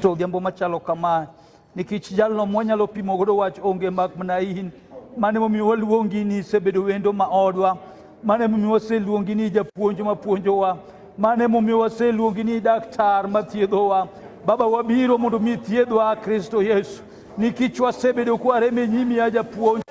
to odhiambo machalo kama nikech jalno mwanyalo pimo godo wach onge mak mana in mane momiyo waluongi ni isebedo wendo ma odwa mane momiyo waseluongi ni japuonj ma puonjowa mane momiyo waseluongi ni daktar ma thiedhowa baba wabiro mondo mi thiedhwa kristo yesu nikech wasebedo kwarem e nyimi ya japuonj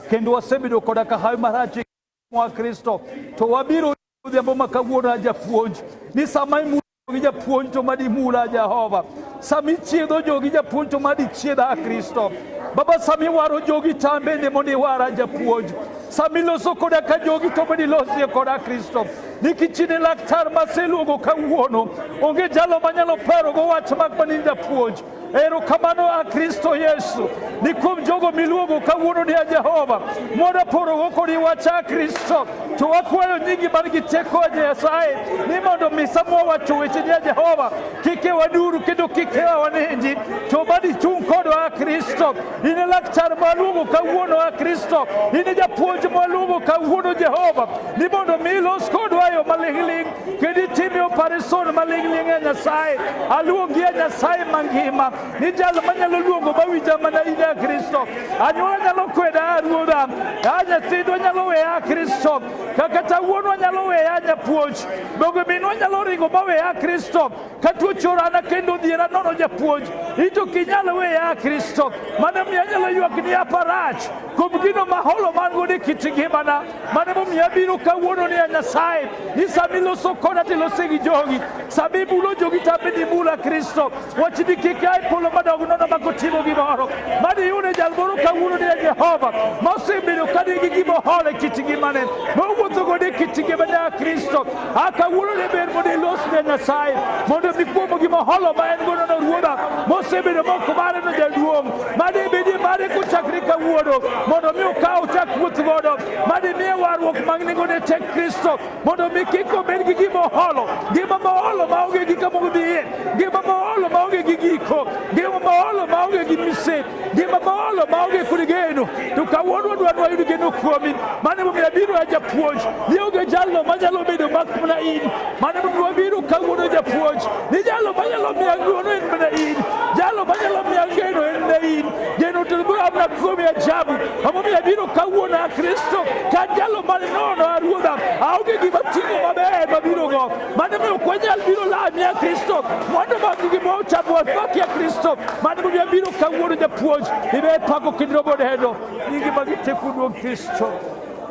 kendo wasebedo koda ka hawi marach e wa Kristo to wabiro odhiambo ma kawuono a japuonj ni sama imulo jogi japuonj to madi mula Jehova sama ichiedho jogi japuonj to madi chiedha a Kristo Baba sama iwaro jogi to an bende mondo iwara japuonj sama iloso koda ka jogi to mondo ilosie koda Kristo nikech in e laktar maseluongo kawuono onge jalo manyalo parogo wach mak mana in japuonj Erokamano a Kristo Yesu ni kuom jogo miluongo kawuono ni a Jehova moda porogo kodi wacha a Kristo to wakwayo nyingi man gi teko a Nyasaye ni mondo misa mwawacho weche ni a Jehova kik ewa duru kendo kik ewa wanindi to mad ichung' kodwa a Kristo in e laktar mwaluongo kawuono a Kristo in e japuonj mwaluongo kawuono Jehova ni mondo mi ilos kodwa e yo maling'ling' Giditime operation maling'ling' e Nyasaye. Aluongi e Nyasaye mangima. Ni jal manyalo luongo mawinja mana in e Kristo. Anyuola nyalo kweda aruora. A nyathindo nyalo weya a Kristo. Kakata wuonwa nyalo weya nyapuonj. Donge minwa nyalo ringo maweya a Kristo. Katuocho orana kendo odhiera nono japuonj, it ok inyal weya a Kristo. Mano miyo anyalo ywak ni aparach kuom gino ma holo man godo e kit ngimana. Mano momiyo abiro kawuono ni a Nyasaye, ni sama iloso koda to ilose gi jogi, sama ibulo jogi to abed imula Kristo. Wach ni kik a e polo madog nono ma kotimo gimoro. Mano iyude jal moro kawuono ni a Jehova, ma osebedo ka nigi gima oholo e kit ngimane, mowuotho godo e kit ngimane a Kristo. akawuolone ber mondo ilos ne nyasaye mondo mi kuomo gima holo ma en gono no ruodha mosebedo moko mare no jaduong' made bedi mare kochakre kawuono mondo mi okaw chak wuoth godo made miye warruok mag nengone tek kristo mondo mi kik obed gi gima oholo ngima ma oholo ma onge gi kama odhiye ngima ma oholo ma onge gi giko ngima ma oholo ma onge gi misepe Ngima maolo maonge kod geno, to kawuono wadwaro wayud geno kuomi. Mano emomiyo abiro ya japuonj, ni onge jalno manyalo bedo mak mana in. Mano emomiyo wabiro kawuono japuonj, ni jalno manyalo miya ng'wono en mana in. Jalno manyalo miya geno en mana in. Geno to biro amna kuomi ajabu. Emomiyo abiro kawuono a Kristo, ka jalno mane nono a Ruodha, aonge gima timo maber mabiro go. Mano mi ok wanyal biro lamie Kristo mondo mag gimoro chandruok makie Kristo. Mano momiyo abiro kawuono japuonj ibe pako kendo robo neno nyingi mag teku duong' Kristo.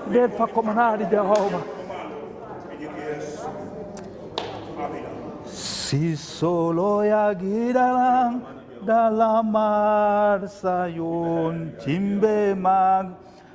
Ibe pako manadi Jehova. Si solo ya gidalang dalamar sayon timbe mag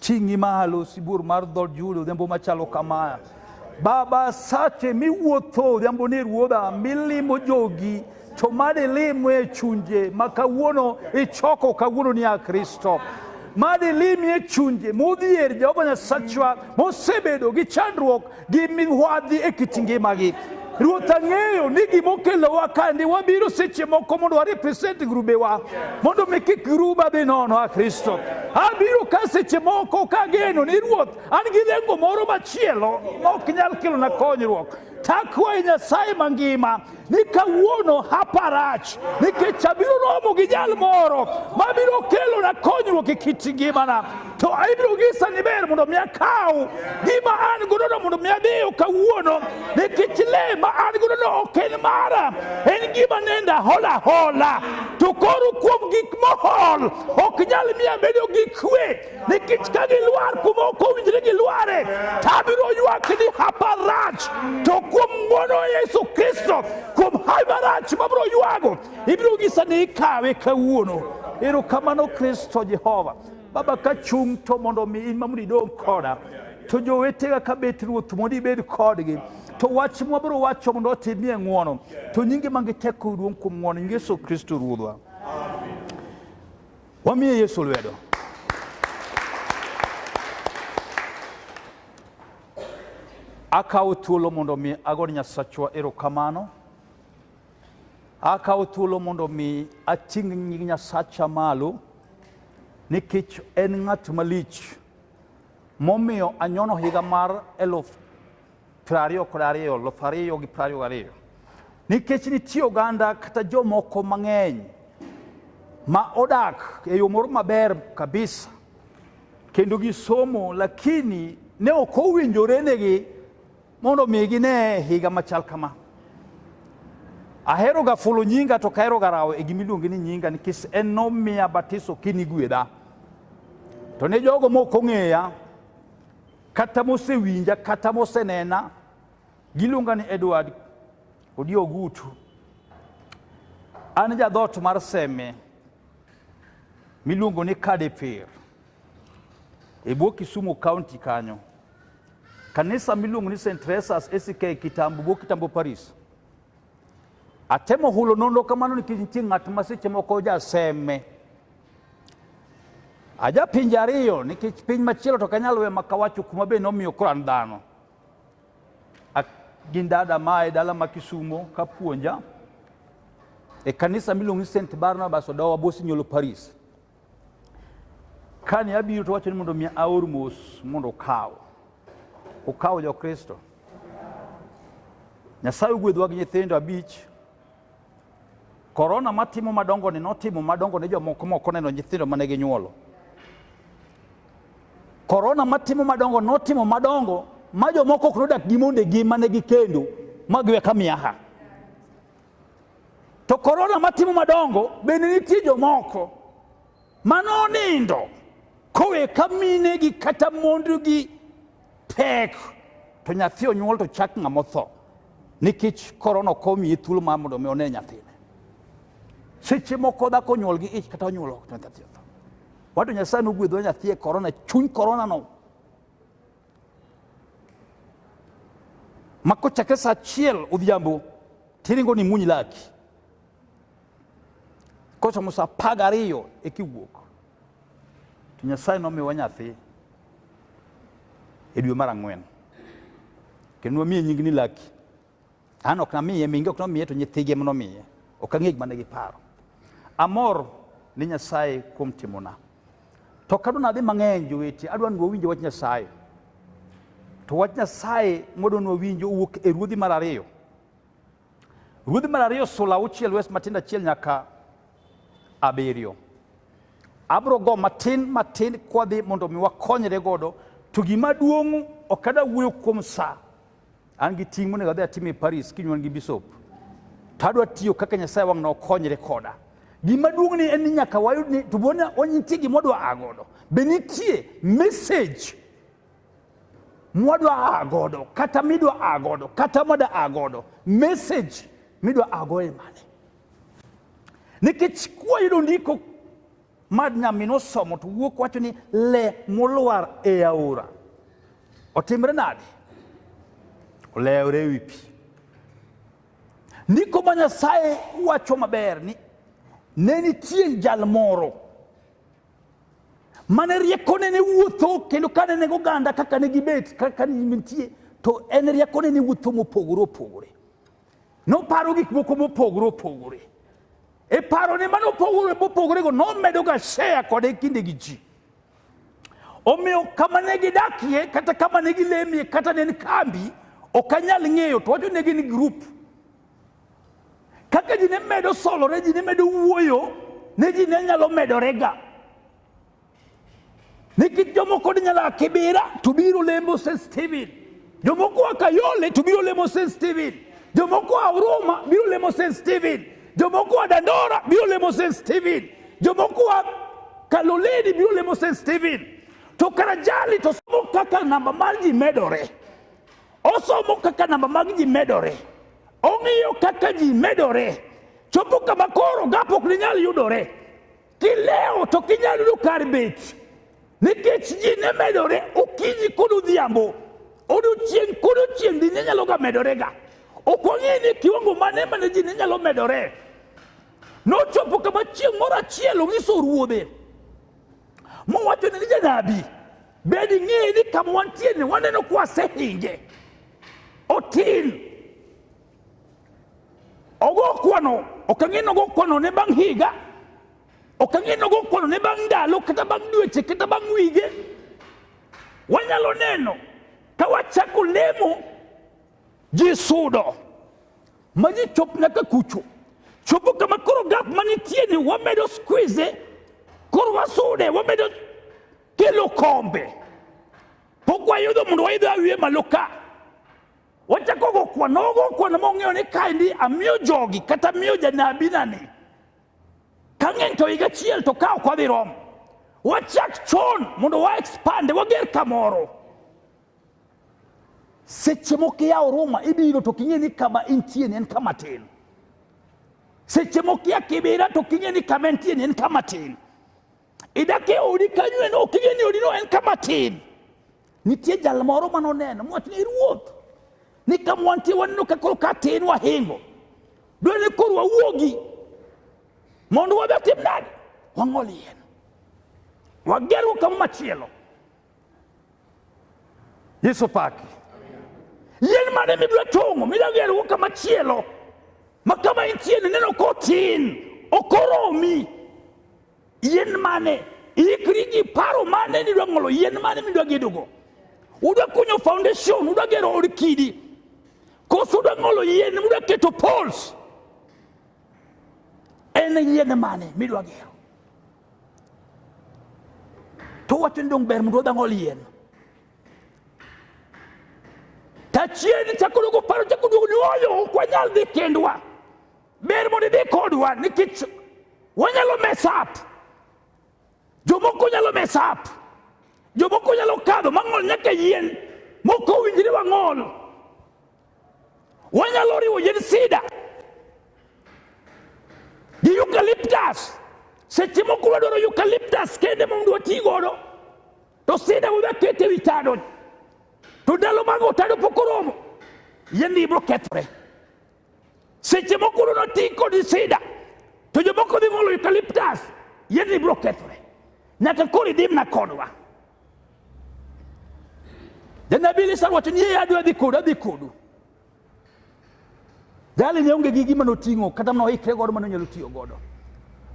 Ting'i malo sibuor mar dhood Juda odhiambo machalo kama. Baba, sache miwuotho odhiambo ni ruodha, milimo jogi to made limo e chunje ma kawuono ichoko kawuono ni a Kristo made limi e chunje modhier Jehova Nyasachwa mosebedo gi chandruok gi migwadhi e kit ngimagi. Ruoth ang'eyo ni gima okelowa ka ndi wabiro seche moko mondo wa represent grubewa mondo mi kik gruba dhi nono a Kristo. Abiro ka seche moko ka geno ni Ruoth an gi lengo moro machielo ma ok nyal kelona konyruok. Takwayi Nyasaye mangima ni kawuono hapa rach nikech abiro romo gi jal moro mabiro kelona konyruok e kit ngimana to ibiro nyisa ni ber mondo mi akaw gima an godono mondo mi adiyo kawuono nikech le ma an godono ok en mara en gima nenda hola hola to koro kuom gik mohol ok nyal miya bedo gi kwe nikech ka gilwar kuma ok owinjre gilware to abiro ywak ni hapa rach to kuom ng'wono yesu kristo kuom hawi marach mabiro ywago ibiro nyisa ni ikawe kawuono erokamano kristo jehova baba ka chung' to mondo mi in mamondo idong' koda to jowetega ka bet ruoth mondo ibed kodgi to wach mwabiro wacho mondo otimie ng'wono to nyingi mangi teko duong' kuom ng'wono nyingi yesu kristo ruodhwa Wamiye Yesu lwedo. Akawo thuolo mondo mi agone Nyasachwa erokamano. Akawo thuolo mondo mi ating' nying Nyasacha malo nikech en ng'at malich momiyo anyono higa mar eluf piero ariyo kod ariyo luf ariyo gi piero ariyo gariyo nikech nitie oganda kata jomoko mang'eny ma odak e yo moro maber kabisa kendo gisomo lakini ne ok owinjorenegi mondo mi gine higa machal kama ahero ga fulo nyinga to kahero ga rawo e gima iluonge ni nyinga nikech en nomiya batiso kinigwedha to ne jogo mok ong'eya kata mosewinja kata mosenena giluonga ni Edward Odio Ogutu. An jadhot mar Seme miluongo ni Kadeper e bwo Kisumu County kanyo. Kanisa miluongo ni St. Teresa's ACK Kitambo bwo Kitambo Paris. Atemo hulo nonro kamano nikech nitie ng'at ma seche moko jaseme Aja pinje ariyo nikech piny machielo to kanyal we makawacho kuma be nomiyo koro an dhano. Gin dada ma e dala ma Kisumo ka puonja e kanisa miluongo ni St Barnabas Odowa Bosinyolo Paris. Kane abiro to wacho ni mondo mi aor mos mondo okaw. Okaw jo Kristo. Nyasaye ogwedhwa gi nyithindo abich Korona matimo madongoni notimo madongo ne jomoko moko neno nyithindo mane ginyuolo. Korona matimo madongo notimo madongo ma jomoko ok nodak gi mondegi mane gikendo ma giwe ka miaha. To korona matimo madongo bende nitie jomoko manonindo kowe ka minegi kata mondegi Tek to nyathi onyuol to chak ng'ama otho nikech korona ok omiye thuolo mar mondo mi one nyathine. Seche moko dhako onyuol gi ich kata onyuol ok nyathi otho. Wato Nyasaye nogwedho nyathi e korona, chuny korona no. Ma kochakre sa achiel odhiambo tiringo ni muny laki. Kochomo sa apar gariyo eka iwuok. To Nyasaye nomiwa nyathi e dwe mar ang'wen kendo wamiye nying ni Laki. An ok namiye mingi, ok nomiye to nyithige ema nomiye. Ok ang'e gima ne giparo. Amor ni Nyasaye kuom timona. To kadwa nadhi mang'eny jowete, adwa ni wawinje wach Nyasaye. To wach Nyasaye mwadwa ni wawinjo owuok e ruodhi mar ariyo. Ruodhi mar ariyo sula auchiel wes matindo achiel nyaka abiriyo. Abro go matin matin kwadhi mondo mi wakonyre godo to gima duong' ok ada wuoyo kuom sa an gi ting' monego adhi atim e Paris kinyuan gi bishop to adwa tiyo kaka Nyasaye wang' na okonyre koda gima duong' ni en ni nyaka wayud ni to bona wanyitie gima odwa a godo be nitie message mwadwa a godo kata midwa a godo kata mwada a godo message midwa a godo e mane nikech kwayudo ndiko ma nyaminwa osomo to wuok wacho ni le molwar e aora otimre nade olewre e wi pi ndiko ma nyasaye wacho maber ni ne nitie jal moro mane riekone ne wuotho kendo kane nego oganda kaka ne gibet kaka nitie to en riekone ne wuotho mopogore opogore noparo gik moko mopogore opogore e parone mane opogore mopogorego nomedoga shea kode kinde gi ji omiyo kama ne gidakie kata kama ne gilemie kata ne en kambi ok anyal ng'eyo to wacho ne gin grup Kaka ji ne medo solore, ji ne medo wuoyo, ne ji ne nyalo medorega. Nikech jomoko ne nyalo a Kibira to biro lemo St. Stephen. Jomoko a Kayole to biro lemo St. Stephen. Jomoko a Huruma biro lemo St. Stephen. Jomoko a Dandora biro lemo St. Stephen. Jomoko a Kaloleni biro lemo St. Stephen. To Karajali to somo kaka namba mar ji medore. Osomo kaka namba mag ji medore, ong'iyo kaka ji medore, chopo kama koro gap ok ninyal yudore. Kilewo to kinyal yudo kar bet, nikech ji ne medore okinyi kod odhiambo, odiochieng' kod odiochieng' ji ne nyaloga medorega. Ok wang'eyo ni kiwango mane mane ji ne nyalo medore. Nochopo kama chieng' moro achiel onyiso ruodhe, mowachone ni janabi, Bed ing'eyo ni kama wantie ni waneno kuwa asehinge otin ogo kwano ok ang'e ni ogo kwano ne bang' higa ok ang'e ni ogo kwano ne bang' ndalo kata bang' dweche kata bang' wige wanyalo neno ka wachako lemo ji sudo ma ji chop nyaka kucho chopo kama koro gap manitie ni wamedo squeeze koro wasude wamedo ke lokombe pok wayudo mondo waidho awiye malo ka wachako go kwana ogo kwana mong'eyo ni kaendi amiyo jogi kata miyo janabi nani ka ng'eny to higa achiel to ka ok wadhi romo wachak chon mondo wa expande wager kamoro seche moko iyawo ruma ibiro to king'e ni kama intie ni en kama tin seche moko iya kibira to king'e ni kama entie ni en kama tin Idakie odi kanyo en ok ing'e ni odino en kama tin. Nitie jal moro ma noneno mowacho ni ruoth ni kama wantie waneno ka koro ka tin wahingo. Dwani ni koro wawuogi mondo wabe watim nade? Wang'ol yien. Wagerwa kama machielo. Yesu paki. Yien mane mibiro tong'o midwa gerwa kama chielo ma kama intie neno kotin okoromi Yien mane ikri gi paro mane nidwa ng'olo, yien mane midwa gedogo. Udwa kunyo foundation, udwa gero od kidi, koso udwa ng'olo yien, udwa keto poles. En yien mane midwa gero? To wacho ni dong' ber mondo wadha ng'ol yien. Tachien chako duogo paro chako duogo ni oyo ok wanyal dhi kendwa. Ber mondo idhi kodwa nikech wanyalo mess up. Jomoko nyalo mess up. Jomoko nyalo kadho mang'ol nyaka yien moko winjre wang'ol. Wanyalo riwo yien sida gi eucalyptus. Seche moko wadwaro eucalyptus kende mondo wati godo to sida wadwa kete wi tado to ndalo mag otado pok oromo yien ibiro kethore. Seche moko uno ti kod sida, to jomoko dhi ng'olo eucalyptus, yiedni biro kethore. Nyaka koro idimna kodwa. Janabi Elisha wacho ni yeye adwa dhi kodu, adhi kodu. Jali ne onge gi gima noting'o kata mana oikre godo mane onyalo tiyo godo.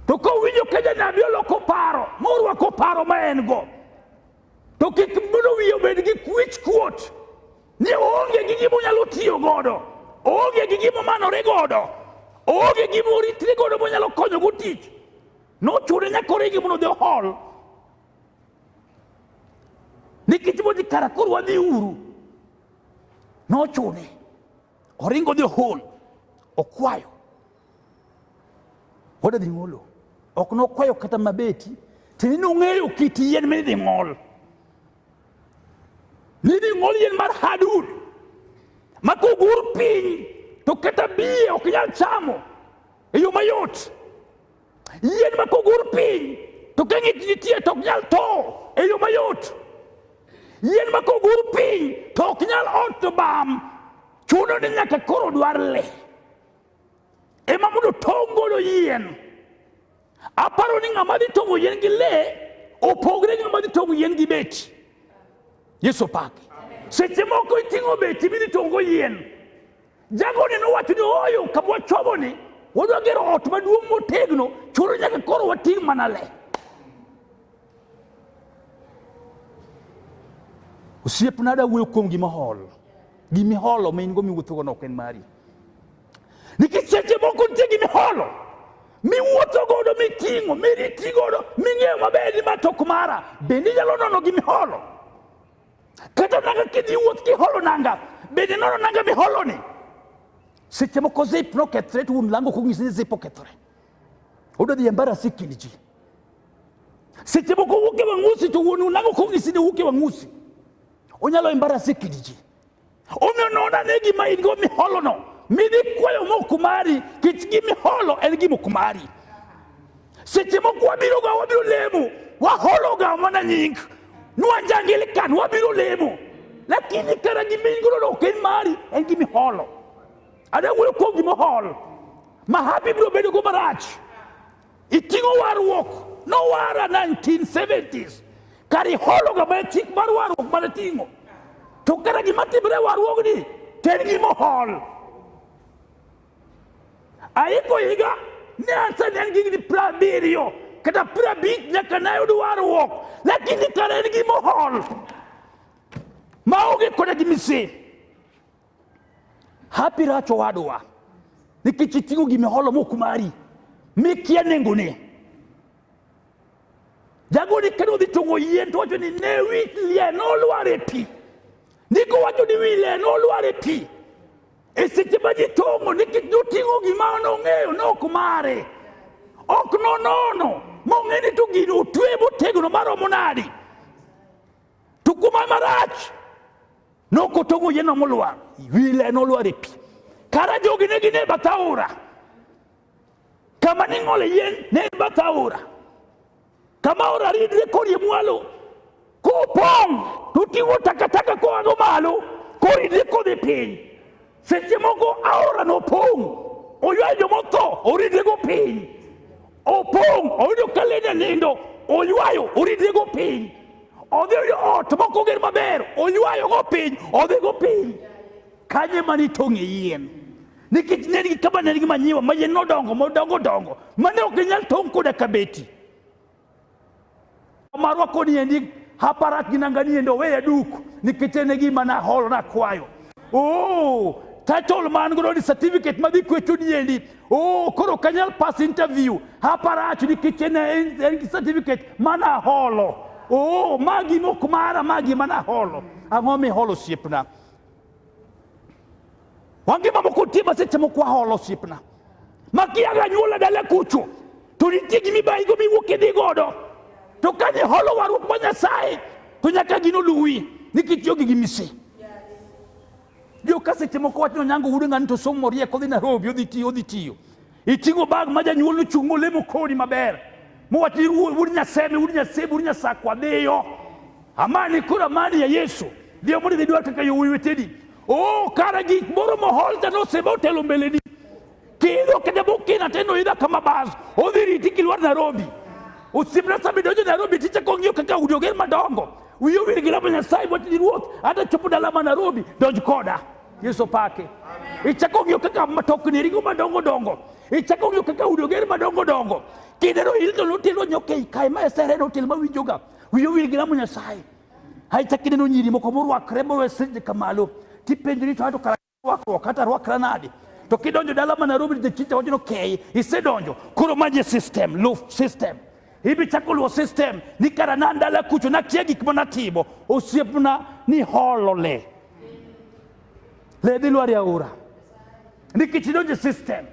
To kowinjo ka janabi oloko paro, morwako paro ma en go, To kik mondo wiye obed gi kwich kuot ni oonge gi gima onyalo tiyo godo, oonge gi gima omanore godo, oonge gima oritre godo monyalo konyogo tich. Nochune nyaka oregi mondo odhi ohol. Nikech modhi kara koro wadhi uru. Nochune. Oringo dhi ohol, okwayo. Wada dhi ng'olo. Ok nokwayo kata mabeti. Tini nong'eyo kit yien ma idhi ng'ol. Nidhi ng'ol yien mar hadud. Ma kogur piny to kata biye ok nyal chamo e yo mayot. Yien ma kogur piny to ka ng'ich nitie to ok nyal to e yo mayot. Yien ma kogur piny to ok nyal ot to bam, chuno ni nyaka koro dwar le ema mondo tong' golo yien. Aparo ni ng'ama dhi tong'o yien gi le opogre gi ng'ama dhi tong'o yien gi beti. Yesu opaki. Seche moko iting'o beti midhi tong'o yien Jagoni nowacho ni ooyo kama wachomoni wadwa gero ot maduong' motegno chuno nyaka koro wating' mana le. Osiepna da wuoyo kuom gima hol. Gima iholo ma in go miwuothogo no ok en mari. Nikech seche moko nitie gima iholo miwuotho godo miting'o miriti godo ming'eyo maber ni ma tok mara bende inyalo nono gima iholo. kata nanga kidhi wuoth kiholo nanga bende nono nanga miholoni seche moko zip nokethre to wuon lango konyisi ni zip okethore oda dhi embarasi kind ji seche moko wuok e wang'usi to wuon lango konyisi ni wuok e wang'usi onyalo embarasi kind ji Omiyo non ane gima in go miholono, midhi kwayo mok mari, kech gimiholo en gima ok mari. Seche moko wabiroga wabiro lemo, wahologa mana nying, nwanjangilikan wabiro lemo, lakini kara gima in godo ok en mari, en gimiholo. Adawuoyo kuom gimihol, mahapi biro bedogo marach. Iting'o warruok nowara 1970s kar ihologa mana chik mar warruok mana ting'o to kata gima timre warruogni to en gima ohol aiko higa ne asani en gigni pra abiriyo kata pra abich nyaka nayud warruok lakini kara en gima ohol maonge koda gi misin hapi racho wadwa nikech iting'o gima holo mok mari mikia nengone jagoni kendo odhi tong'o yien to wacho ni ne wi lie nolwar e pi ndiko wacho ni wi lie nolwar e pi e seche ma ji tong'o nikech noting'o gima nong'eyo nok mare ok nonono mong'e ni to gino otwe motegno maromo nadi To kuma marach nokotong'o yeno molwar, wile nolwar e pi. Kara jogi ne gin e bath aora. Kama ning'ole yien ne en bath aora. Kama aora ridre korie mwalo, kopong' to oting'o takataka koago malo, koridre kodhi piny. Seche moko aora nopong', oywayo jomotho, oridrego piny. Opong', oyudo ka le janindo, oywayo, oridrego piny. Odhi oyudo ot mok oger maber, oywayogo piny, odhigo piny. Kanye mane itong'e yien? Nikech ne nigi kama ne nigi manyiwa ma yien nodongo, modongo dongo, mane ok inyal tong' koda kabeti. marwa koni endi haparak ginanganie ndo weya duk nikitene gima na holo na kwayo oh title man godo ni certificate madhi kwecho ni endi oh koro kanyal pass interview haparach nikitene en certificate mana holo oh magi mok mara magi mana holo ang'o mi holo siepna wangima moko tie ma seche moko aholo osiepna makiaga nyuola dala kucho to nitie gima ibayigo miwuok idhi godo to kane holo warruok ma nyasaye to nyaka gino luwi nikech jogi gi mise joka seche moko wacho ni onyango wuod ng'ani to somo rieko odhi narobi odhi tiyo odhi tiyo Iting'o bag ma janyuol nochung' molemo kodi maber. Mowach ni wuod Nyaseme, wuod Nyasebe, wuod Nyasakwa dhiyo. Amani koro amani ya Yesu. Dhiyo mondo idhi dwar kaka yo weteni. Oh, kara gik moro moholta nosebe otelo mbeleni. Kiidho kata bokina teno idha kama bas. Odhi riti kilwar Nairobi. Osiepna sami donjo Nairobi tichako ng'iyo kaka udi oger madongo. Wiyo wir gi lamo Nyasaye wach ni ruoth, hata chopo dala ma Nairobi, donj koda. Yesu pake. Ichako ng'iyo kaka matokni ringo madongo dongo. Ichako ng'iyo kaka udi oger madongo dongo. Kinde no ilto notelo nyoka ei kae ma esere notel ma winjoga. Wiyo wil gi lamo Nyasaye. Hai chak ineno nyiri moko morwakre mowe sirni kamalo. Tipenjori to ato kara rwakruok kata rwakra nade. To kidonjo dala ma Nairobi the chicha wacho no kei isedonjo. Koro maji system, loaf system. ibi chakuluo system ni kara na ndala kucho na kia gik mana timo osiepna ni holo le le dhi lwari aora nikech idonje system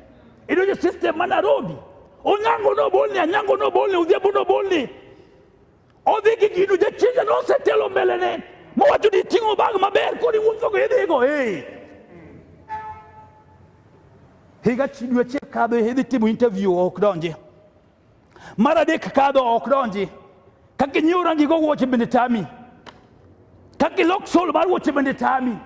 idonje system mana rodi onyango no bolni anyango no bolni udhiambo no bolni odhi gi gino jachinja no osetelo mbele ne mowacho ni ting'o bag maber kodi wuotho go idhigo hey. higa dweche kadho idhi timo interview ok donje Mar adek kadho ok donji. Ka kinyiewo rangi go wuoche bende tami. Ka kilok sol mar wuoche bende tami.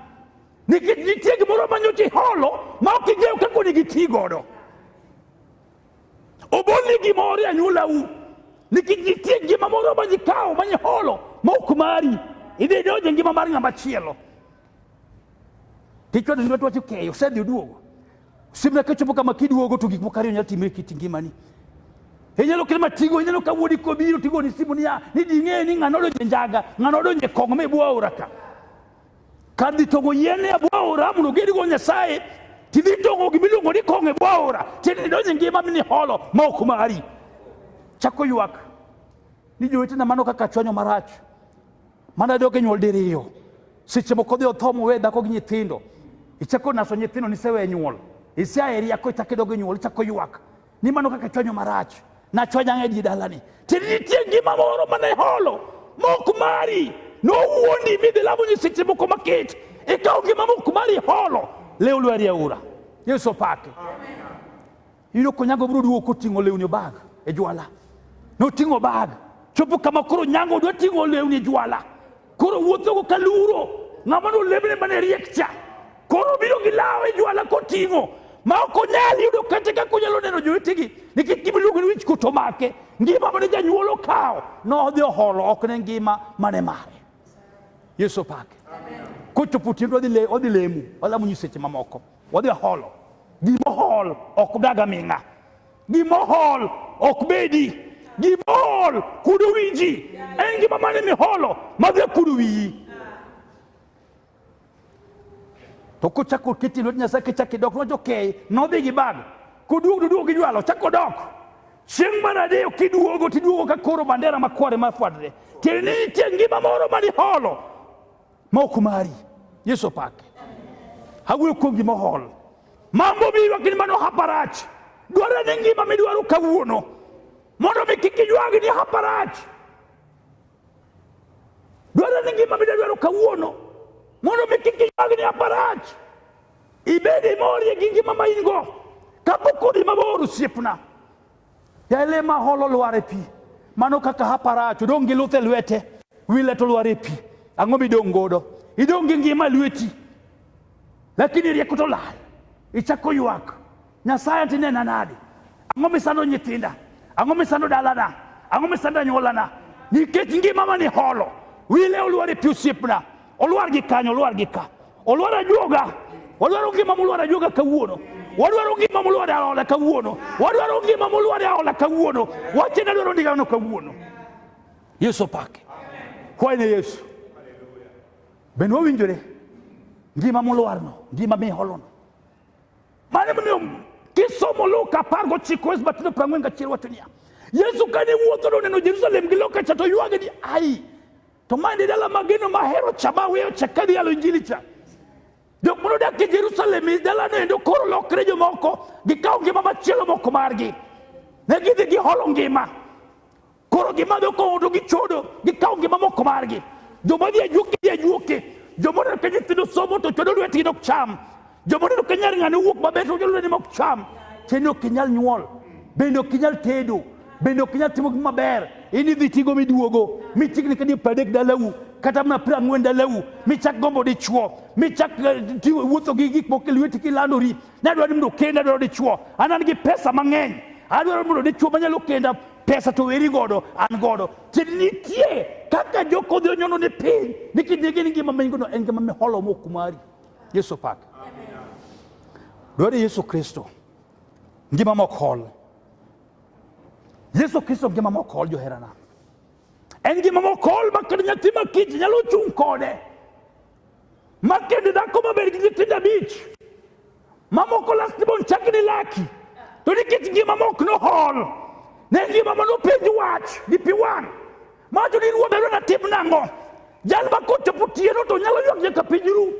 Nikech nitie gimoro ma nyocha iholo ma ok ing'eyo kaka onego iti godo. Obolni gimoro e anyuolau nikech nitie ngima moro ma nikawo ma niholo ma ok mari. Idhi idonjo e ngima mar ng'ama chielo. Tichwado ni watwacho keyo, osedhi oduogo. Simna kachopo kama kiduogo to gik moko ariyo nyalo timre kit ngimani. Inyalo kelo matigo, inyalo ka wuodi kobiro tigo ni simu niya, ni ding'e ni ng'ano odonje njaga, ng'ano odonje kong' me bwa aora ka. Kadhi tongo yien e bwa aora mondo gedigo Nyasaye, tidhi tongo gimiluongo ni kong' e bwa aora, tiende ni donje ngima mini holo ma ok mari. Chako ywak ni jowetena mano kaka chwanyo marach. Mano adok e nyuol diriyo. Seche moko dhi otho mowe dhako gi nyithindo. Ichako naso nyithindo nisewe nyuol. Isea e riako ichako idog e nyuol ichako ywak. Ni mano kaka chwanyo marach. Nachwanya ng'e ji dalani. Ti nitie ngima moro mane holo. Mok mari. Nowuondi midhi lamo nyiseche moko makit. Ikawo ngima mok mari holo. Lew lwari aura. Yesu opaki. Amen. Iyudo konyago biro duogo koting'o lewni bag e jwala. Noting'o bag. Chopo kama koro nyango dwa ting'o lewni e jwala. Koro wuothogo ka luro. Ng'ama nolemne mane riek cha. Koro biro gi law e jwala koting'o. Ma ok onyal yudo kata kaka onyalo neno jowetegi nikech gima iluongo ni wich kuto make. Ngima mane janyuol okawo nodhi oholo ok ne ngima mane mare. Yesu opake. Kochopo otieno odhi le- odhi lemo, olamo nyiseche mamoko. Wadhi waholo. Gimohol ok dag aming'a. Gimohol ok bedi. Gimohol kudo wi ji. En gima mane miholo madhi kudo wiyi. To kochako kiti lwet Nyasaye kichako idok nojo kei nodhi gi bag. Koduog to duog gi jwalo chako dok. Chieng' mar adek kiduogo tiduogo ka koro bandera makware mafwadre. Tiende ni nitie ngima moro ma niholo ma ok mari yesu opake awuoyo kuom gima ohol mambo miywak ni mano haparach dwarore ni ngima midwaro kawuono mondo mi kik iywag ni haparach dwarore ni ngima midadwaro kawuono mondo mi kik iywag ni haparach ibed imorie gi ngima ma in go kapok odi mabor osiepna Yale maholo lwar e pi. Mano kaka hapa rach, odong' gi luth e lwete, wile to lwar e pi. Ang'o midong' godo? Idong' gi ngima lweti, lakini rieko to lal. Ichako ywak, Nyasaye tinena nade? Ang'o misando nyithinda? Ang'o misando dalana? Ang'o misando anyuolana? Nikech ngima mani holo, wile olwar e pi osiepna. Olwar gi kanyo, olwar gi ka. Olwar ajuoga. Olwaro ngima molwar ajuoga kawuono. Wadwaro ngima molwar aola kawuono. Wadwaro ngima molwar aola kawuono. Wache na dwaro ndigano kawuono. Yesu opake. Kwaye ne Yesu. Ben wawinjore ngima molwarno, ngima miholono. Mane momiyo kisomo Luka apar gochiko wes batido piero ang'wen gachiel wacho niya, Yesu kane wuotho noneno Jerusalem gi lokacha to ywage ni ai To ma en e dala ma geno mahero cha ma weyo cha kadhi yalo injili cha. Jok mane odak e Jerusalem e dalano endo koro lokre jomoko gikawo ngima machielo moko margi. Ne gidhi giholo ngima. Koro gimadho kong'o to gichodo gikawo ngima moko margi. Joma dhi ajuoke dhi ajuoke. Joma odak e nyithindo somo to chodo lwetgi dok cham. joma neno kanyar ng'ane wuok maber to jolweny ema ok cham tiende ok inyal nyuol bende ok inyal tedo bende ok inyal timo gima ber in idhi tigo miduogo michikni kadi pradek dalau kata mana pra ang'wen dalau michak gombo dichwo michak eh, ti- wuotho gi gik moko e lweti kilandori nadwaro ni mondo kenda adwaro dichwo an an gi pesa mang'eny adwaro mondo dichwo manyalo kenda pesa to weri godo an godo tiende nitie kaka jokodhi onyono ni piny nikech ne gin ngima manygono en ngima miholo mokumari Yesu opak. Dwaro Yesu Kristo. Ngima mokol. Yesu Kristo ngima mokol joherana. En ngima mokol ma kendo nyathi ma kich nyalo chung' kode. Ma kendo dhako maber gi nyithindo abich. Ma moko lastborn chak ni laki. To nikech ngima mok nohol. Ne ngima ma nopenj wach gi pi wang'. Macho ni ruoth ayudo natim nang'o? Jal ma kochopo tieno to nyalo ywak nyaka piny ru.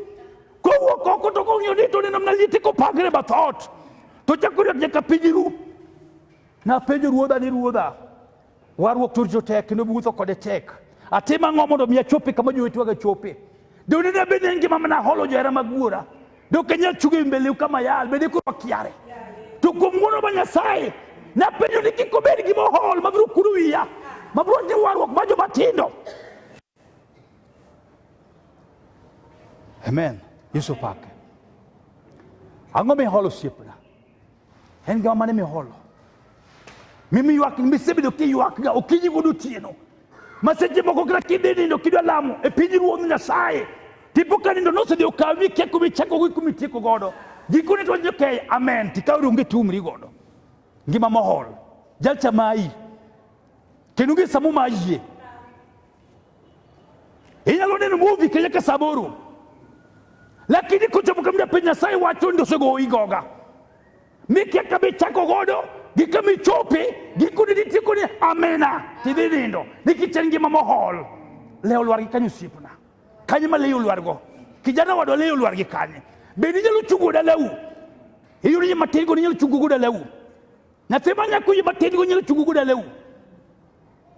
Kowuok oko to kong'iyo ni to neno mana liete kopangre bath ot. To chako ywak nyaka piny ru. Napenjo ruodha ni ruodha, warruok to rito tek kendo wuotho kode tek. Atim ang'o mondo mi achopi kama jowetewega chope? Dok ne bed ni en gima mana holo johera mag wuora. Dok anyal chungo e mbeleu kama yal, bende koro wakiare. To kuom ng'wono ma Nyasaye, napenjo ni kik obed gima ohol ma biro kuro wiya, ma biro timo warruok ma joma tindo. Amen. Yesu opake. Ang'o miholo osiepna? en gima mane miholo mimi ywak misebedo kiywakga okinyi kod otieno ma seche moko kata kidhi nindo kidwa lamo e piny ruodh nyasaye tipo ka nindo nosedhi okawi mikia kumi chako gi kumi tieko godo gikone to wacho okay amen tikaw ronge tumri godo ngima mohol jalcha mayi kendo gi samo mayie inyalo neno muvi kenya ka saboro lakini kochopo kamda piny nyasaye wacho ni osegoyi goga mikia kama ichako godo gi kama ichope gikone nitiekoni amena tidhi nindo nikichen ngima mohol le olwar gi kanye osiepna kanye ma leyo olwargo kijana wadwa leyo olwar gi kanye bende inyalo chungo dalau iyudo ni matin go ninyalo chungo go dalau nyathi ma nyako yie matin go nyalo chungo go dalau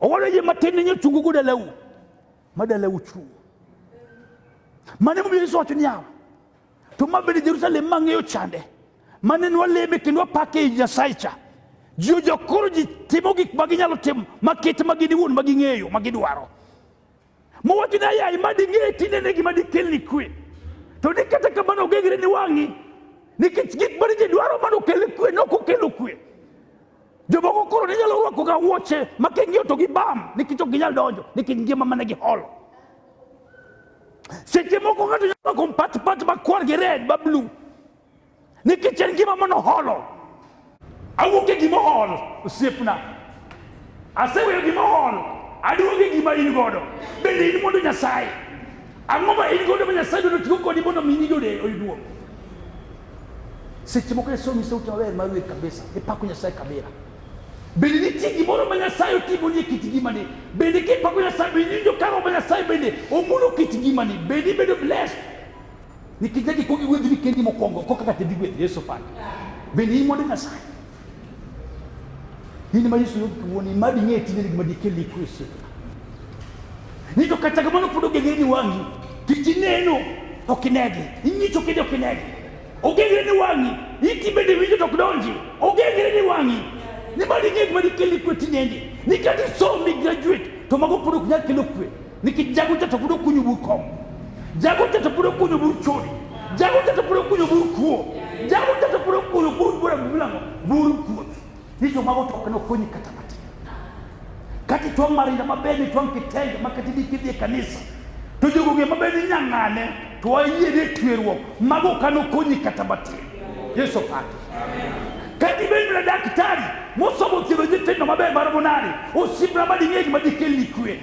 Owalo yie matin ni chungu go dalau. Ma dalau chu. Mane mo Yesu wacho niya. To ma bende Jerusalem ma ng'eyo chande. Mane nwa leme kendo apake i Nyasaye cha. Ji ojokoro ji timo gik ma ginyalo timo ma ket ma gini wuon ma ging'eyo ma gidwaro. Mowach ni ayai ma ding'e tinde ne gima dikelni kwe. To ni kata kamano ogegre ni wang'i nikech gik mane ji dwaro mano kele kwe ne ok okelo kwe. Jomoko koro ne nyalo rwako ga wuoche ma king'iyo to gibam nikech ok ginyal donjo nikech ngima mane giholo. Seche moko ng'ato nyalo rwako mpat mpat makwar gi red ma blue nikech en ngima mane oholo awuok e gima ohol osiepna aseweyo gima ohol aduogo e gima in godo bende in mondo nyasaye ang'o ma in godo ma nyasaye dono tigo kodi mondo mi nyingi oyuduo seche moko nyasaye onyisa ute maber mar wer kabisa ipako nyasaye kabira bende nitie gimoro ma nyasaye otimoni e kit ngimani bende kipako nyasaye bende injo karo ma nyasaye bende omulo kit ngimani bende ibedo blessed Nikija ki kogi wetni kendi mokwongo koka kata dhi gweth Yesu pande. Bende in mondo Nyasaye. In ma Yesu yodi kuoni ma ding'e tinde gima dikeli ku Yesu. Ni to kata kamano pod ogengre ni wang'i. Tich ineno ok inegi. Ing'icho kende ok inegi. Ogengre ni wang'i. Iti bende winjo to ok donji. Ogengre ni wang'i. Ni ma ding'e gima dikeli ku tinende. Ni kata isom ni graduate to mago pod ok nyal kelo kwe. niki jago jato biro kunyo bur kom jago jato biro kunyo bur chori jago jato biro kunyo bur kuo jago jato biro kunyo bur bura mlango bur kuo hicho mago to kana kunyi kata kati kati to marinda mabeni to kitenge makati dikidie kanisa to jogo ge mabeni nyangane to ayie ne twirwo mago kana kunyi kata bati yesu pati kati beni bila daktari musomo kiro jitendo mabe barabonari usibra badi nyeji madikeli kwe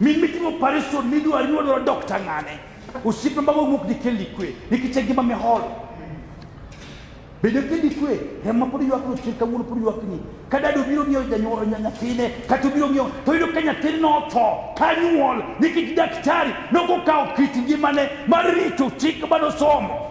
Min mitimo operation midwa nyuolo dokta ng'ane? Osiepe mbago wuok ni kelli kwe nikech e ngima mihol. Bedo kelli kwe remo pod ywak no chir kawuono pod ywak ni. Ka dado biro ng'iewo janyuol nyathine kata obiro ng'iewo to yudo ka nyathine otho ka nyuol nikech daktari nokokawo kit ngimane mar rito chik manosomo.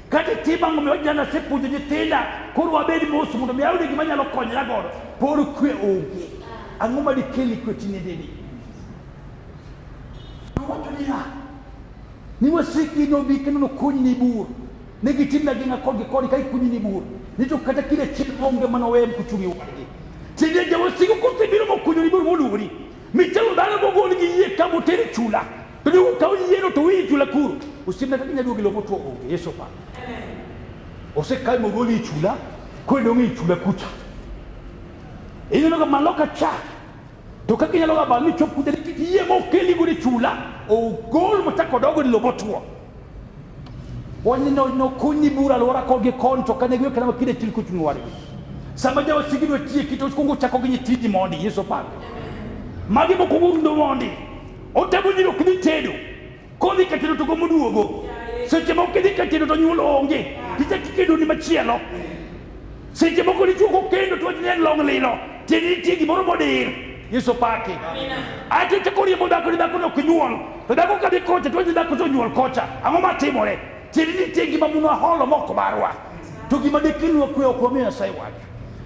Kata itim ang'o miyo jana asepuonjo nyithinda koro wabed mos mondo mi ayud gima nyalo konyra godo por kwe onge ang'o ma dikeli kwe tinendeni nowacho niya ni wasiki nobi kendo nokunyni bur ne gitimna gina kodgi koni ka ikunyni bur ni to kata kile chiel onge mana wewe mkuchumi wadi tinde jawo siku kote biro mokunyo ni buru moluwori michelo dano mogol gi yie ka moteri chula To jo ka oyiero to wiyi chula kuro. Osiepna kaka nyaduogi loko tuo onge Yesu pa. Osekae mogoli chula kwendo ngi chula kucha. Ineno ka maloka cha to kaka inyalo ga bani chop kucha kiyie mokeli gode chula ogol machako dogo ni lobo tuo. wani no no kunyi bura lora ko gi konto kane gwe kana kide til ku tunu wari sama jawa sigi do tie kito ko ngucha ko gi tidi mondi yeso pa magi mo ko murundo mondi o tabu ni ko ni tedo ko ni katino to ko muduogo seche mo kidi katino to nyulo onge kite kikedo ni machielo Seche moko dichwo kokendo to wach ni en long' lilo, tiende nitie gimoro modir. Yesu paki. Aeto ichako riembo dhako ni dhakono ok nyuol, to dhako kadhi kocha to wach ni dhako to onyuol kocha. Ang'o matimore? Tiende nitie gima munwa holo mok marwa. To gima dekelnwa kwe ok wamiyo Nyasaye wach.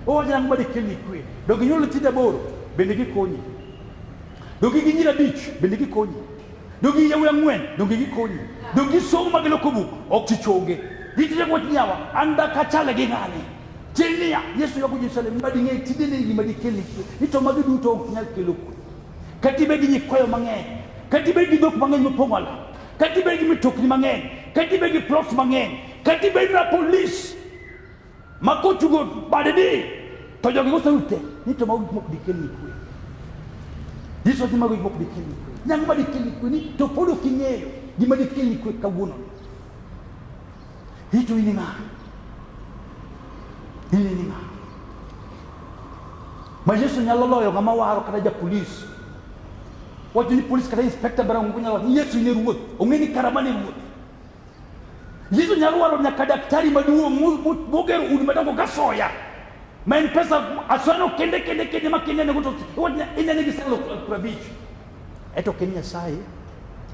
Owacho ni ang'o ma dekelni kwe? Donge inyuolo nyithindo aboro? Bende gikonyi. Donge gi nyiri abich? Bende gikonyi. Donge yawuoyi ang'wen donge gikonyi? Donge gisomo ma giloko buk? Ok ti chonge. Nitie wach niyawa an dak achale gi ng'ani. Tieng' niya Yesu yago Jerusalem ma ding'e tinde ni gima dikel ni kwe. Ni to magi duto ok nyal kelo kwe. Kati bed gi nyikwayo mang'eny. Kati bed gi dhok mang'eny mopong'o ala. Kati bed gi mitokni mang'eny. Kati bed gi plots mang'eny. Kati bed na police Makochugo bade di to jogi moseruch te ni to mago gik mok dikelni kwe. Yesu wacho mago gik mok dikelni kwe. Nyango ma dikelni kwe ni to pod ok ing'eyo gima dikelni kwe kawuono. Hito ini ng'a? Ini ni ng'a? Ma Yesu nyalo loyo ng'ama waro kata ja polis. Wacho ni polis kata inspekta bara ng'ungu nyalo wacho ni Yesu ine ruoth. Ong'e ni karama ne ruoth. Yesu nyalo waro nyaka daktari maduong' moger udi madongo ka soya ma en pesa aswano kende kende kende ma kende nego to inene gi salo prabich eto ken nyasaye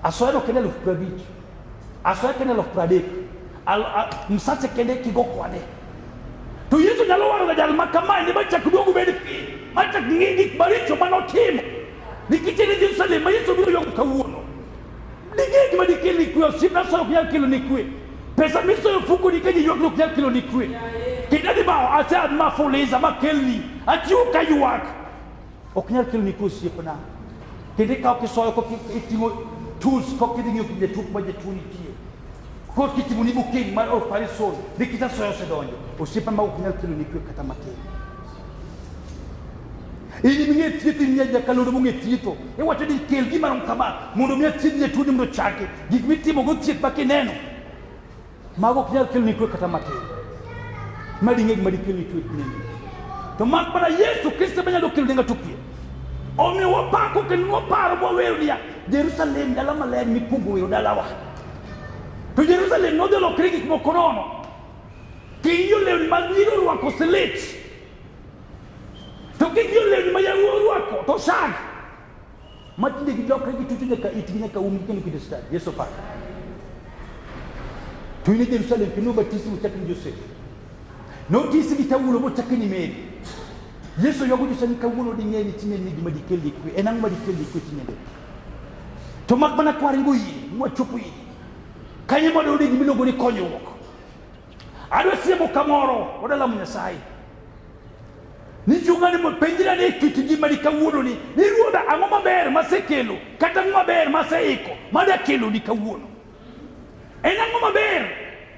aswano kende elfu prabich aswano kende elfu pradek msache kende kigo kwane to Yesu nyalo waro ga jal ma kamae ne machak duogo bed piny machak ng'i gik maricho manotimo nikech en Jerusalem ma Yesu biro ywago kawuono Ding'e gima dikel ni kwe, osiepna solo ok nyal kelo ni kwe. Pesa misoyo fuko ni kaji ywak ok nyal kelo ni kwe. Kendo ni ma ase an ma fuliza ma kelni, achiwo ka ywak. Ok nyal kelo ni kwe osiepna. Kendo ikawo kisoyo kok iting'o tools kok idhi ng'iyo kinde tuk ma jatuo nitie. Kok itimo ni booking mar operation ni kita soyo osedonjo. Osiepna ma ok nyal kelo ni kwe kata matin. In imiye thieth in nyajakalondo mong'e thietho. Iwacho ni kel gima rom kama mondo mi athiedh jatuoni mondo ochangi. Gik mitimogo thieth ma kineno. Mago ok nyal keloni kwe kata matin. Ma ding'e gima dikelni kwe nini. To mak mana Yesu Kristo ema nyalo keloni ng'ato kwe. Omiyo wapako kendo waparo mwawero niya, Jerusalem dala maler mikwongo wero dalawa. To Jerusalem nodhi olokre gik moko nono. King'iyo lewni mag nyiri orwako silit. To kik joleny ma yawuo orwako to sag ma tinde gidokre gitucho nyaka itgi nyaka um kendo kinde stad Yesu pak to in e Jerusalem kendo obatisi mochak ni Josef notisi gi tawulo mochak ni Meri Yesu yogo Josef ni kawuono ding'e ni tinyne ni gima dikelni kwe en ang'o ma dikelni kwe tinyne to mak mana kwaringo yie mwachopo yie kanyo modo ode gimiluongo ni konyruok adwa siemo kamoro odalamo nyasaye nichungani penjira ni kit ngimani kawuononi ni ruodha ang'o maber masekelo kata ang'o maber maseiko madakeloni kawuono en ang'o maber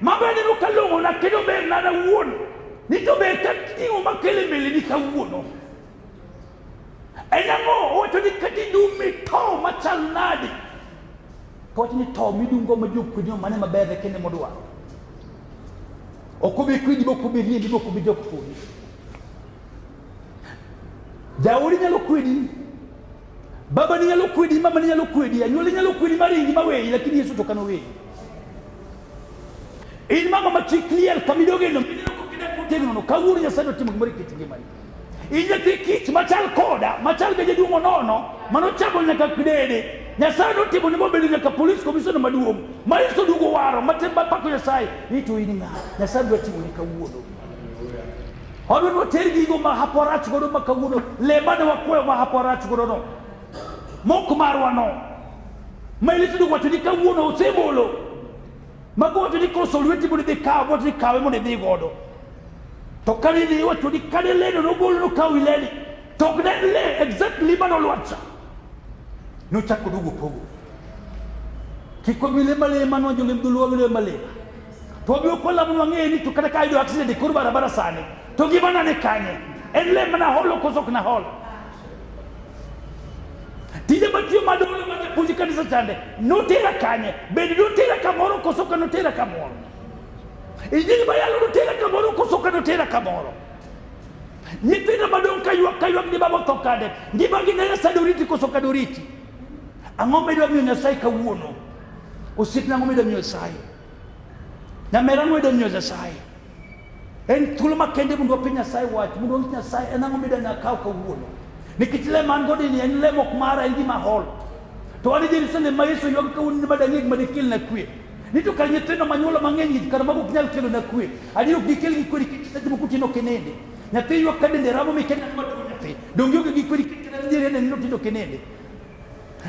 mabeneno kalong'ona kendo ber nada wuon ni to ber ka ting'o makele mbeleni kawuono Enang'o owacho ni kata idumi to machal nadi to wacho ni to midungo ma jokwedi mane maber e kende modwa ok obi kwedi bok obi riembi bok obi jok kodi jaodi nyalo kwedi baba ni nyalo kwedi mama ni nyalo kwedi anyuola nyalo kwedi maringi maweyi lakini yesu to kano weyi in mama ma chi clear kamidoge no tegno no kawuono nyasaye otimo gimoro e kit ngimani Inyathi kich machal koda machal ga jaduong' onono mano chamo nyaka kidede nyasaye notimo ni mobedo nyaka polis komisona maduong' ma iso dugo waro matembapako nyasaye ni to in ng'a nyasaye dwa timo ni kawuono Odo no ter gigo ma haporach godo ma kawuono le mane wakwayo ma haporach godo no mok marwa no ma ilito dwa wacho ni kawuono osebolo Magojo ni koso lweti mondo idhi kaw mondo idhi kawe mondo idhi godo. To kane idhi iwacho ni kane leno nogolo nokaw ileni. To ok ne le exactly mano lwacha. Nochako duogo pogo. Kik wabi le male mano wajo le mdulu wabi le male. To wabi okola mwa ng'e ni to kata ka ayudo accident e kor barabara sani. To gima nane kanye. En le mana holo koso ok na holo. tije matiyo madolo mane puonj kanisa chande notera kanye bende notera kamoro koso ka notera kamoro injili mayalo notera kamoro koso ka notera kamoro nyithindo madong' kaywak kaywak ni baba otho kade ngimagi ne nyasaye doriti koso ka doriti ang'o midwa miyo nyasaye kawuono osiepna ang'o midwa miyo nyasaye nyamera ang'o midwa miyo nyasaye En thuolo makende mondo wapenj Nyasaye wach, mondo wawinj Nyasaye en ang'o midwani akaw kawuono. Nikech le man go ni en le mok mara, en gima hol. To wan e Jerusalem ma Yesu ywak kawuono ni madang'e gima dikelna kwe. Ni to kar nyithindo manyuolo mang'eny gi kar mago ok nyal kelona kwe. Adier ok dikel gi kwe nikech seche moko tin ok inindi. Nyathi ywak ka dende ramo mi kenda ma tuo nyathi. Donge onge gi kwe nikech kenda nitiere ne nindo tindo ok inindi.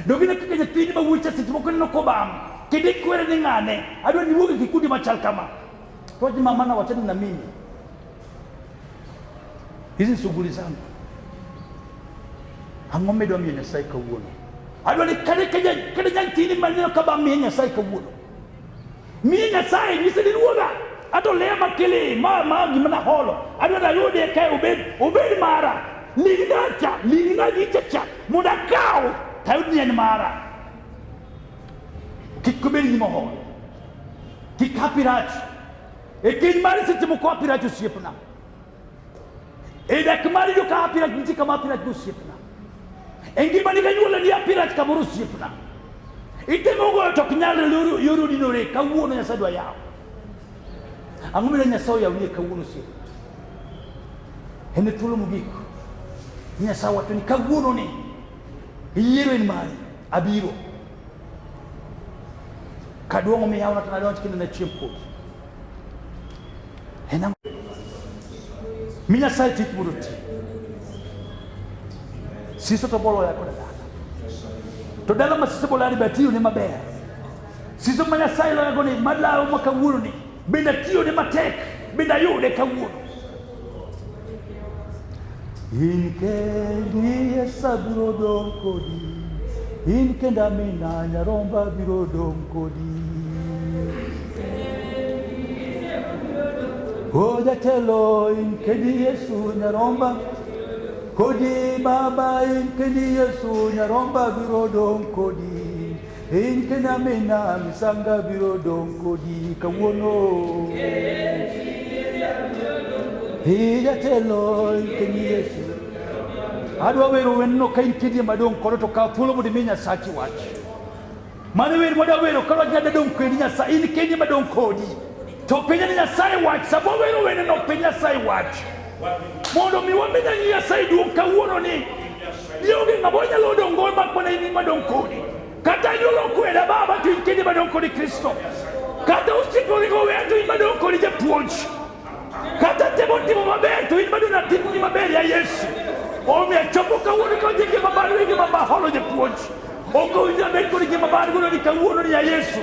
Donge ne kaka nyathini ma wuoyi cha seche moko neno kobam. Kendo ikwere ni ng'ane. Adwa ni wuog e kikundi machal kama. Roji mama na wachana na mimi, hizi shughuli zangu ang'o midwa miyo Nyasaye kawuono? Adwa ni kane kane nyatini maneno kaba miye Nyasaye kawuono, miye Nyasaye nyise ni ruodha ato leya makili ma ma gima na holo adwa ni ayude kae obed obed mara lignacha lignagichacha mondo akaw tayud ni en mara kik obed gima holo Tikapiraj. Ekin mari se timo kwa piraj usipna. Edak mari yo ka piraj nti kama piraj usipna. Engi mari ka nyuola ni piraj kama usipna. Itemo go to knyal luru yuru dinore ka wuono nyasaye dwa yawo. Ang'o mire nyasaye yawo ni ka wuono usipna. Ene thuolo mogik. Nyasaye wacho ni ka wuono ni yiero en mari abiro. Kaduong' omiyaw na tana donj kendo na chiem kodi. Hena mi Nyasaye tik mondo ti. Siso to bolo ya koda dala. To dala ma siso bolo ya ni batiyo ne maber. Siso ma Nyasaye lo ya goni madlawo ma kawuono ni. Bende tiyone matek, bende ayude kawuono. In kendi Yesu abiro dong' kodi, in kenda Amina nyaromba abiro dong' kodi. O jatelo in kendi Yesu nyaromba, kodi mama in kendi Yesu nyaromba abiro dong' kodi. Piny Kenya mina misanga biro dong' kodi kawuono. Ee jatelo ikeni Yesu. Adwa wero wendno ka in kidie madong' kono to kaw thuolo mondo imi Nyasachi wach. Mano wer mwadwa wero ka wach nyada dong' kodi Nyasaye in kidie madong' kodi. To penja ni Nyasaye wach sama wero wendno penj Nyasaye wach. Mondo mi wamenya Nyasaye duong' kawuono ni Lionge ng'ama onyalo dongo mak mana in madong kodi. Kata anyuola okweda baba to in kende madong kodi Kristo. Kata osiepe oringo oweya to in madong kodi japuonj. Kata temo timo maber to in madong atimni maber ya Yesu. Omiyo achopo kawuono ka ojenge mabalo enge mabaholo japuonj. Okowinjore bed kod ngima mar gono ni kawuono ni ya Yesu.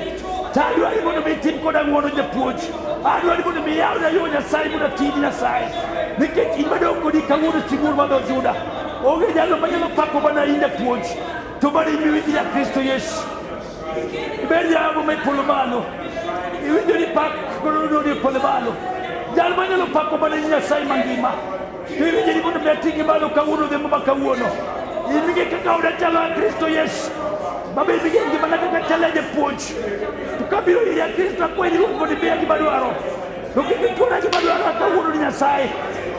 To adwa ni mondo mi itim koda ng'wono japuonj. Adwa ni mondo mi iyawna yo Nyasaye mondo ati gi Nyasaye. Nikech in madong' kodi kawuono sibuor madho Juda. Onge jalo manyalo pako mana in japuonj. To mana in miwinji ja Kristo Yesu. Ibed jago ma ipolo malo. Iwinjo ni pak kono ni ipolo malo. Jal manyalo pako mana in Nyasaye mangima. Kiri jiri mondo metingi malo kawuono dhembo ma kawuono. Imige kaka oda chalo a Kristo Yesu. Baba imige ngima na kaka chalo a japuonj. To kabiro iri a Kristo akwenyi ruoth mondo imiya gima dwaro. To kik ituona gima dwaro a kawuono ni Nyasaye.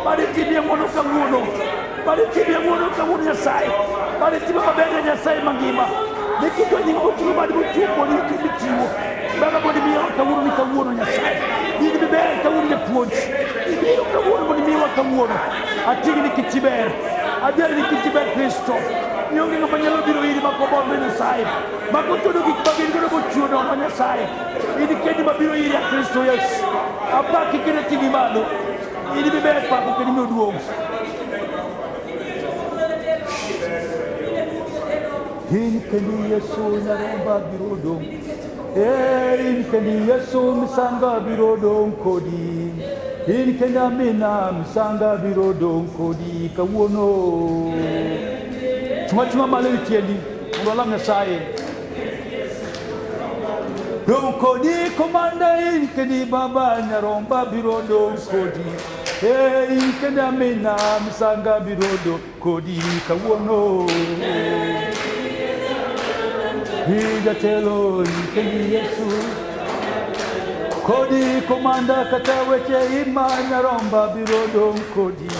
Bari timie ng'wono kawuono. Bari timie ng'wono kawuono Nyasaye. Bari timie maber ne Nyasaye mangima. Nikito nying oting'o bad mochiwo kuonde gi kimichiwo. Baba mondo imiya kawuono ni kawuono Nyasaye. In miber kawuono japuonj. Io kawuono mondo imiwa kawuono atigi ni kit iber adier ni kit iber kristo ionge ng'ama nyalo biro iri ma kobolne nyasaye ma kochodo gik ma gin godo mochiwo nono nyasaye in kendi ma biro iri a kristo yesu apaki kendo ting'i malo in miber pako kendo imiyo duong' in kendi yesu nyaromba biro dong' Hey, kendi Yesu misanga biro dong kodi. In kendi amina misanga biro dong kodi kawuono. Chuma chuma malo itiendi. Mondo alam Nyasaye. Dong kodi komanda in kendi baba nyaromba biro dong kodi. Hey, in kendi amina misanga biro dong Kodi kawuono ijatelo ikendi Yesu kodi komanda kata weche ima nyaromba biro dong kodi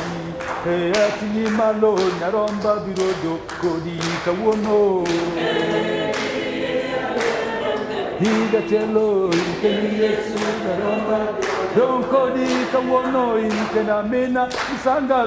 e atinyi malo nyaromba biro dong kodi kawuono ijatelo ikendi Yesu nyaromba dong kodi kawuono ikena mina isanga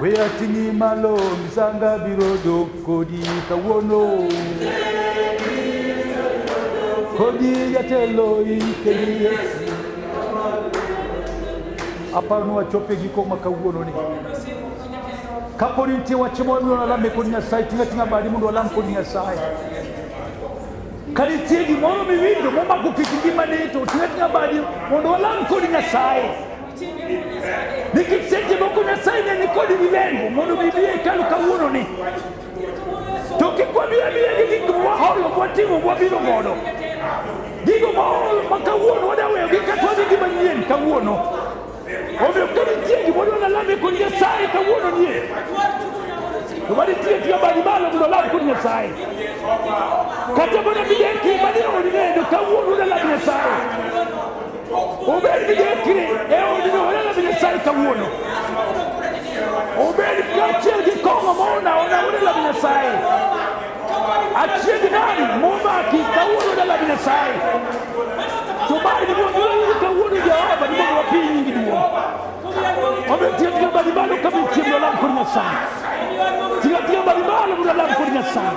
We ating'i malo misanga biro dok kodi kawuono kodi jatelo ikeli aparo ni wachope giko ma kawuono ni kapo ni nitie wach moro miyo nalame kod nyasaye ting'a ting'a badi mondo walam kod nyasaye ka nitie gimoro miwinjo momako kit ngimani to ting'a ting'a badi mondo walam kod nyasaye nikiseti moko nyasaye ne nikodi gi lengo mondo mi biye kalo kawuono ni to kik wabiye biye gi gik mwaholo mwatimo mwabiro godo gigo maholo ma kawuono wadaweyo gi kata wadhi gi manyien kawuono omiyo ka nitie gimodwa nalame kod nyasaye kawuono nie to manitie tiyo badi malo mondo alam kod nyasaye kata mana bideki mane olilendo kawuono nalam nyasaye Obedi Dekri e odino waneno bine sai kawuono. Obedi kaachiel gi kong'o maona ona waneno bine sai. Achiel nani momaki kawuono dala bine sai. To bali ni mondo wayudo kawuono Jehova ni mondo wapiny nyingi duong'. Omiyo tiyo tiyo bali malo ka bichiemo lam kod Nyasaye. Tiyo tiyo bali malo mondo lam kod Nyasaye.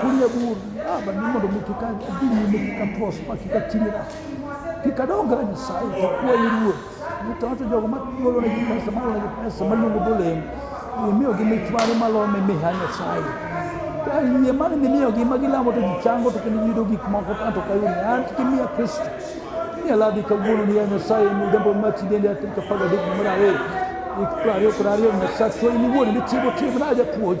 kunya bur aba ni mondo mi kik adhi nyime kik aprospa kik atimira kik adonga ne nyasaye kakwa i ruoth nitawacho jogo magolonegi pesa malonegi pesa maluongo golemo imiyogi mich mare malome miha nyasaye ka yie mane mimiyogi ma gilamo to gichango to kendo giyudo gik moko tanto kayuni an kimiya kristo miya ladhi kawuono niya nyasaye midembo machi dende atirika pagadek mar ariyo ik prariyo kod ariyo nyasaye to in iwuon nitimo timna japuonj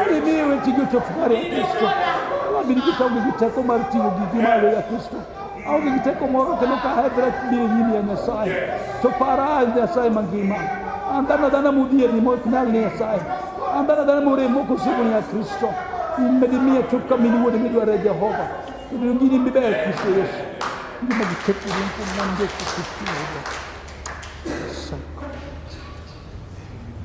Aliniwe tigo to fukare Kristo. Wabiri kita ugi kita ko mar tigo gi malo ya Kristo. Au gi kita ko moro kendo ka hedra bire nyimi ya Nyasaye. To para Nyasaye mangima. Andana dana mudhier ni mok nyal ni Nyasaye. Andana dana more moko sibu ni ya Kristo. Immedi miya chop ka mini wuode midware Jehova. Kendo gini miber Kristo Yesu. Ngima gi chop ni mpo manje Kristo. Kristo.